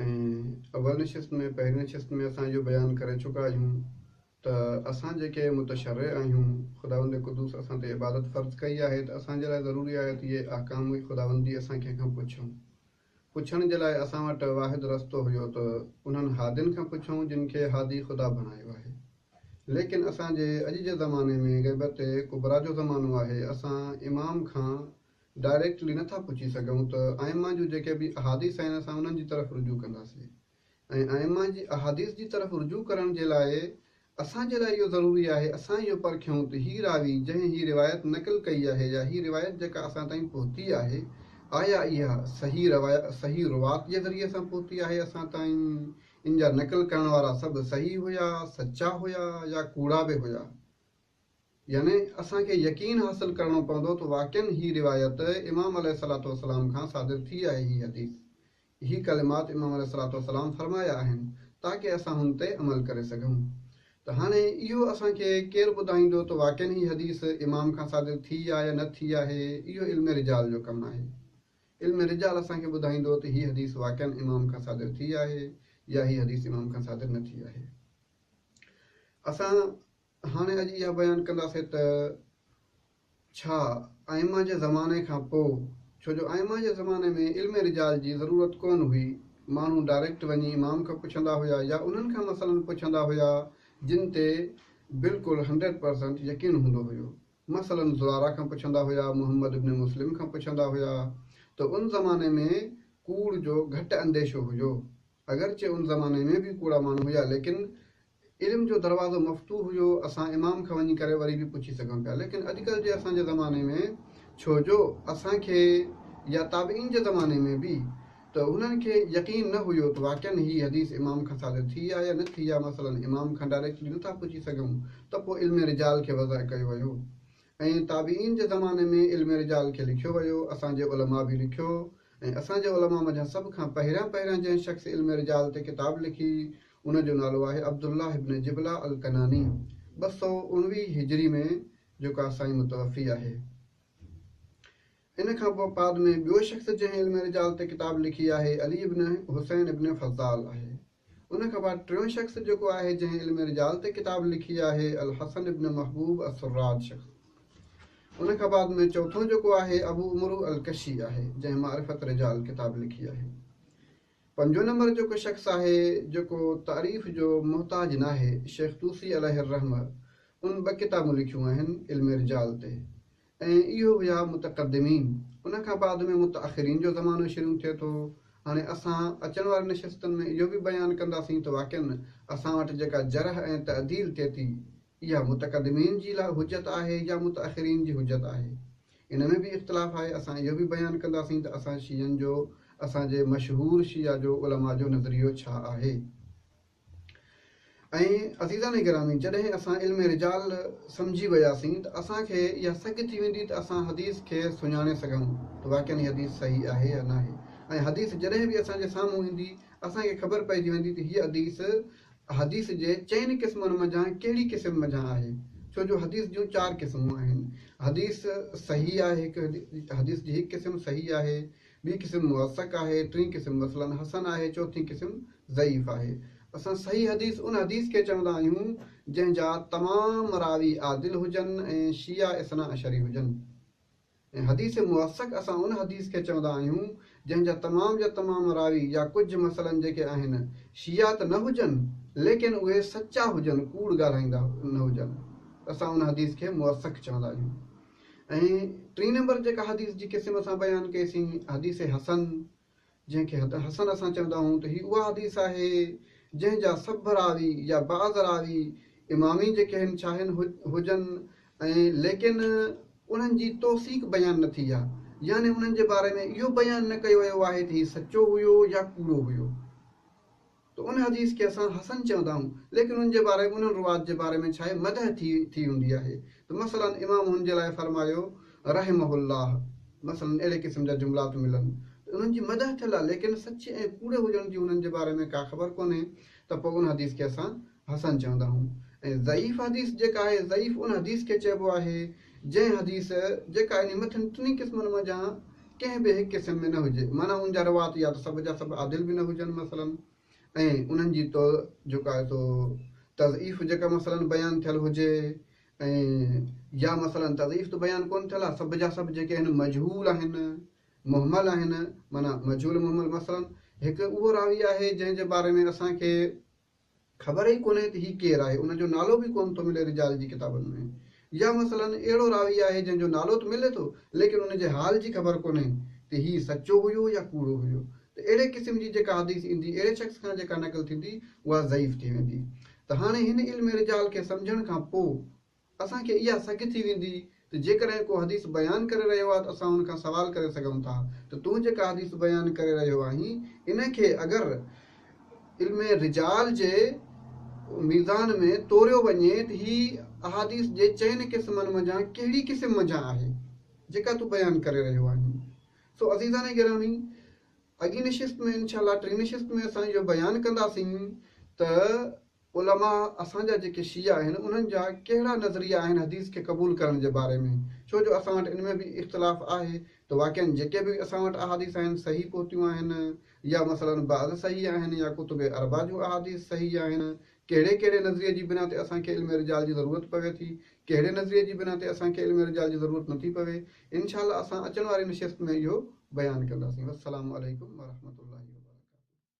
۽ اول نشست ۾ پهرين نشست ۾ اسان اهو بيان ڪري چڪا آهيون ته اسان جيڪي متشرع آهيون خداوند قدوس اسان تي عبادت فرض ڪئي آهي ته اسان جي لاء ضروري آهي ته اهي احڪام ئي خداوند جي اسان ڪنهن کان پڇون پڇڻ جي لاء اسان وٽ واحد رستو هيو ته انهن هادين کان پڇون جن کي هادي خدا بڻايو آهي ليڪن اسان جي اڄ جي زماني ۾ غيبت ڪبريٰ جو زمانو آهي اسان امام کان ڊائريڪٽلي نه ٿا پڇي سگهون ته ائمه جون جيڪي به احاديث آهن اسان انهن جي طرف رجوع ڪنداسين ۽ ائمه جي احاديث جي طرف رجوع ڪرڻ جي لاء اسان جي لاء اهو ضروري آهي اسان اهو پرکيون ته هي راوي جنهن هي روايت نقل ڪئي آهي يا هي روايت جيڪا اسان تائين پهتي آهي آيا اها صحيح صحيح روات جي ذريعي سان پهتي آهي اسان تائين ان جا نقل ڪرڻ وارا سڀ صحيح هيا سچا هيا يا ڪوڙا به هيا. يعني اسان کي يقين حاصل ڪرڻو پوندو ته واقعن هي روايت امام عليه الصلوة والسلام کان صادر ٿي آهي هي حديث هي ڪلمات امام عليه الصلوة والسلام فرمايا آهن تاڪه اسان هن تي عمل ڪري سگهون ته هاڻي اهو اسان کي ڪير ٻڌائيندو ته واقعن هي حديث امام کان صادر ٿي آ يا نه ٿي آهي اهو علم رجال جو ڪم آهي علم رجال اسان کي ٻڌائيندو ته هي حديث واقعن امام کان صادر ٿي آهي يا هي حديث امام کان صادر نه ٿي آهي اسان هاڻي اڄ اها بيان ڪنداسين ته ڇا آئمه جي زماني کان پوء ڇو جو آئمه جي زماني ۾ علم رجال جي ضرورت ڪونه هئي ماڻهو ڊائريڪٽ وڃي امام کان پڇندا هيا يا انهن کان مسئلن پڇندا هيا جن تي بلڪل هنڊريڊ پرسنٽ يقين هوندو هيو مثلا زراره کان پڇندا هيا محمد ابن مسلم کان پڇندا هيا ته ان زماني ۾ ڪوڙ جو گهٽ انديشو هيو. اگرچه ان زماني ۾ به ڪوڙا ماڻهو هيا ليڪن علم جو دروازو مفتوح هيو اسان امام کان وڃي ڪري وري به پڇي سگهون پيا ليڪن اڄڪلهه جي اسان جي زماني ۾ ڇو جو اسان کي يا تابعين جي زماني ۾ به ته هنن کي يقين نه هيو ته واقعن هي حديث امام کان صادر ٿي آ يا نه ٿي آ مثلا امام کان ڊائريڪٽلي نه ٿا پڇي سگهون ته پوء علم رجال کي وضع ڪيو ويو ۽ تابعين جي زماني ۾ علم رجال کي لکيو ويو اسان جي علماء به لکيو ۽ اسان جي علماء منجهان سڀ کان پهريان پهريان جنهن شخص علم رجال تي ڪتاب لکي ان جو نالو آهي عبدالله بن جبلة الڪناني ٻه سؤ اڻويهه هجري ۾ جيڪا سائين متوفي آهي ان کان پوء پاد ۾ ٻيو شخص جنهن علم رجال تي ڪتاب لکي آهي علي بن حسين بن فضال آهي ان کان بعد ٽيون شخص جيڪو آهي جنهن علم رجال تي ڪتاب لکي آهي الحسن ابن محبوب السراج شخص ان کان بعد ۾ چوٿون جيڪو آهي ابو عمرو الڪشي آهي جنهن معرفت رجال ڪتاب لکي آهي پنجون نمبر جيڪو شخص آهي جيڪو تعريف جو محتاج ناهي شيخ طوسي عليه الرحمه ان ٻه ڪتابون لکيون آهن علم رجال تي ۽ اهو هيا متقدمين. ان کان بعد ۾ متاخرين جو زمانو شريون ٿئي ٿو. هاڻي اسان اچڻ وارين نشستن ۾ اهو به بيان ڪنداسين ته واقعن اسان وٽ جيڪا جرح ۽ تعديل ٿئي ٿي، اها متقدمين جي لاء حجت آهي يا متاخرين جي حجت آهي. ان ۾ به اختلاف آهي. اسان اهو به بيان ڪنداسين ته اسان شيعن جو، اسان جي مشهور شيعه جو علماء جو نظريو ڇا آهي. ۽ عزيزان گرامي جڏهن اسان علم رجال سمجهي وياسين ته اسان کي اها سگهه ٿي ويندي ته اسان حديث کي سڃاڻي سگهون ته واقعن هي حديث صحيح آهي يا ناهي ۽ حديث جڏهن به اسان جي سامهون ايندي اسان کي خبر پئجي ويندي ته هيء حديث حديث جي چئن قسمن منجهان ڪهڙي قسم منجهان آهي ڇو جو حديث جون چار قسمون آهن حديث صحيح آهي هڪ حديث جي هڪ قسم صحيح آهي ٻي قسم موثق آهي، ٽين قسم مثلاً حسن آهي، چوٿين قسم ضعيف آهي. اسان صحيح حديث ان حديث کي چوندا آهيون جنهن جا تمام راوي عادل هجن ۽ شيعا اثنا عشري هجن ۽ حديث موثق اسان ان حديث کي چوندا آهيون جنهن جا تمام جا تمام راوي يا ڪجهه مثلاً جيڪي آهن شيعا ته نه هجن ليڪن اهي سچا هجن ڪوڙ ڳالهائيندا نه هجن ته اسان ان حديث کي موثق چوندا آهيون. ۽ ٽين نمبر جيڪا حديث جي قسم اسان بيان ڪئي سين حديث حسن جنهن کي حسن اسان چوندا آهيون ته هي اها حديث آهي جنهن جا سڀ راوي يا بعض راوي امامين جيڪي هن ڇاهين هجن ۽ ليڪن انهن جي توثيق بيان نه ٿي آهي يعني انهن جي باري ۾ اهو بيان نه ڪيو ويو آهي ته هي سچو هيو يا ڪوڙو هيو. ته ان حديث کي اسان حسن چوندا آهيون، ليڪن ان جي باري انهن روات جي باري ۾ ڇاهي مدح ٿي ٿي هوندي آهي ته مثلاً امام هن جي لاء فرمايو رحمه الله مثلاً اهڙي قسم جا جملا ته ملن ته انهن جي مدح ٿيل آهي ليڪن سچي ۽ ڪوڙي هجڻ جي هنن جي باري ۾ ڪا خبر ڪونهي ته پوء ان حديث کي اسان حسن چوندا هون ۽ ضعيف حديث جيڪا آهي ضعيف ان حديث کي چئبو آهي جنهن حديث جيڪا انهي مٿين ٽنهي قسمن منجهان ڪنهن به هڪ قسم ۾ نه هجي معنيٰ ان جا روات يا ته سڀ جا سڀ عادل به نه هجن مثلا ۽ انهن جي تو جيڪو آهي سو تضعيف جيڪا مثلا بيان ٿيل هجي ۽ يا مثلا تضعيف ته بيان ڪون ٿيل آهي سڀ جا سڀ جيڪي آهن مجهول آهن مهمل آهن معنيٰ مجهول مهمل مثلا هڪ اهو راوي آهي جنهن جي باري ۾ اسان کي خبر ئي ڪونهي ته هي ڪير آهي، ان جو نالو به ڪونه ٿو ملي رجال جي ڪتابن ۾. يا مثلاً اهڙو راوي آهي جنهن جو نالو ته ملي ٿو ليڪن ان جي حال جي خبر ڪونهي ته هي سچو هيو يا ڪوڙو هيو ته اهڙي قسم جي جيڪا حديث ايندي اهڙي شخص کان جيڪا نقل ٿيندي اها ضعيف ٿي ويندي ته هاڻي هن علم رجال کي سمجهڻ کان پوء اسان کي اها سگهه ٿي ويندي ته جيڪڏهن ڪو حديث بيان ڪري رهيو آهي ته اسان ان کان سوال ڪري سگهون ٿا ته تون جيڪا حديث بيان ڪري رهيو آهين ان کي اگر علم رجال جي ميزان ۾ توريو وڃي ته هي احاديث جي چئن قسمن منجهان ڪهڙي قسم منجهان آهي جيڪا تون بيان ڪري رهيو آهين سو عزيزان گرامی اڳين نشست ۾ انشاء الله ٽين نشست ۾ اسان اهو بيان ڪنداسين ته علماء اسان جا جيڪي شيعا آهن انهن جا ڪهڙا نظريا آهن حديث کي قبول ڪرڻ جي باري ۾ ڇو جو اسان وٽ ان ۾ به اختلاف آهي ته واقعن جيڪي به اسان وٽ احاديث آهن صحيح پهتيون آهن يا مثلاً بعض صحيح آهن يا ڪتب اربعه جون احاديث صحيح آهن ڪهڙي ڪهڙي نظريي جي بنا تي اسان کي علم رجال جي ضرورت پوي ٿي ڪهڙي نظريي جي بنا تي اسان کي علم رجال جي ضرورت نه ٿي پوي انشاء الله اسان اچڻ واري نشست ۾ اهو بيان ڪنداسين والسلام عليڪم ورحمة الله وبرڪاته.